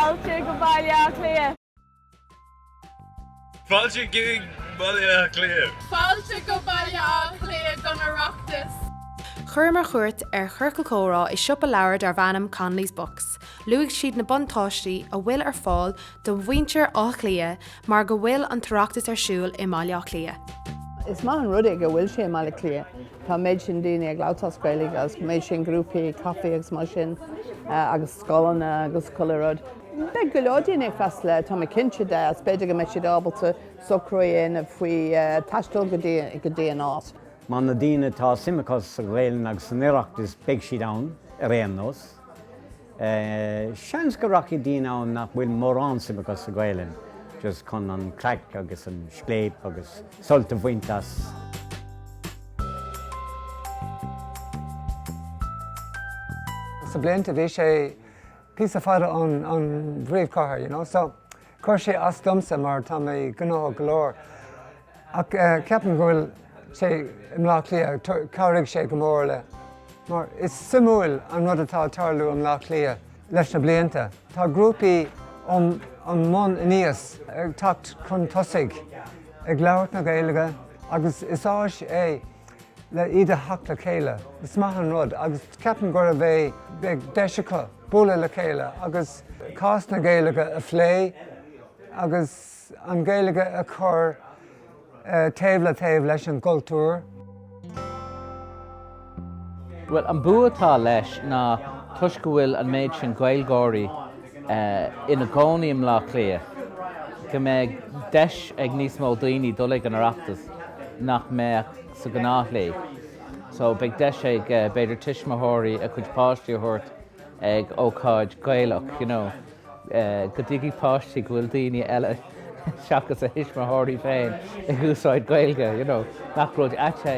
Fáilte go Baile Átha Cliath! Fáilte go Baile Átha Cliath! Fáilte go Baile Átha Cliath don Oireachtas! Chuireamar cuairt ar chiorcal comhrá i siopa leabhar darb ainm Connolly's Books. Luaigh siad na buntáistí a bhfuil ar fáil do mhuintir Átha Cliath Mar go bhfuil an tOireachtas ar siúl i mBaile Átha Cliath. Is maith an rud é go bhfuil sé i mBaile Cliath. Tá an méid sin daoine ag labhairt as Gaeilge agus an méid sin grúpaí caifé agus mar sin eh, agus scoileanna agus chuile rud. Beidh go leor daoine ag freastal le tá mé cinnte de agus b'fhéidir go mbeidh siad ábalta socrú a dhéanamh faoi eh, taisteal go dtí- go dtí an áit. Má na daoine atá suim acu sa Ghaelainn agus san Oireachtas beidh siad ann ar aon nós. Seans go rachaidh daoine ann nach bhfuil mórán suime acu sa Ghaelainn, just chun an chraic agus an scléip agus sult a bhaint as. Sna blianta, bhí sé píosa fada ón bpríomhchathair, you know, so Chuir sé as domsa mar tá mé gnóthach go leor. Ach ceapaim go bhfuil sé i mBleá Cliath, chabhraigh sé go mór leis. Mar is suimiúil an rud atá ag tarlú i mBleá Cliath leis na blianta. Tá grúpaí ón mbun aníos ag teacht chun tosaigh ag labhairt na Gaeilge agus is áis é, le iad a theacht le chéile. Is maith an rud agus ceapaim go mbeidh deis acu bualadh le chéile agus cás na Gaeilge a phlé agus an Ghaeilge a chur taobh le taobh leis an gcultúr. Bhuel, an bua atá leis ná toisc go bhfuil an méid sin Gaeilgeoirí ina gcónaí i mBleá Cliath, go mbeidh deis ag níos mó daoine dul ag an Oireachtas. nach mbeadh sa ghnáthshlí. So, beidh deis ag, b'fhéidir, tuismitheoirí a gcuid páistí a thabhairt ag ócáid Ghaelach, you know, go dtuigfidh páistí go bhfuil daoine eile seachas a dtuismitheoirí féin ag úsáid Gaeilge, you know, nach rud ait é.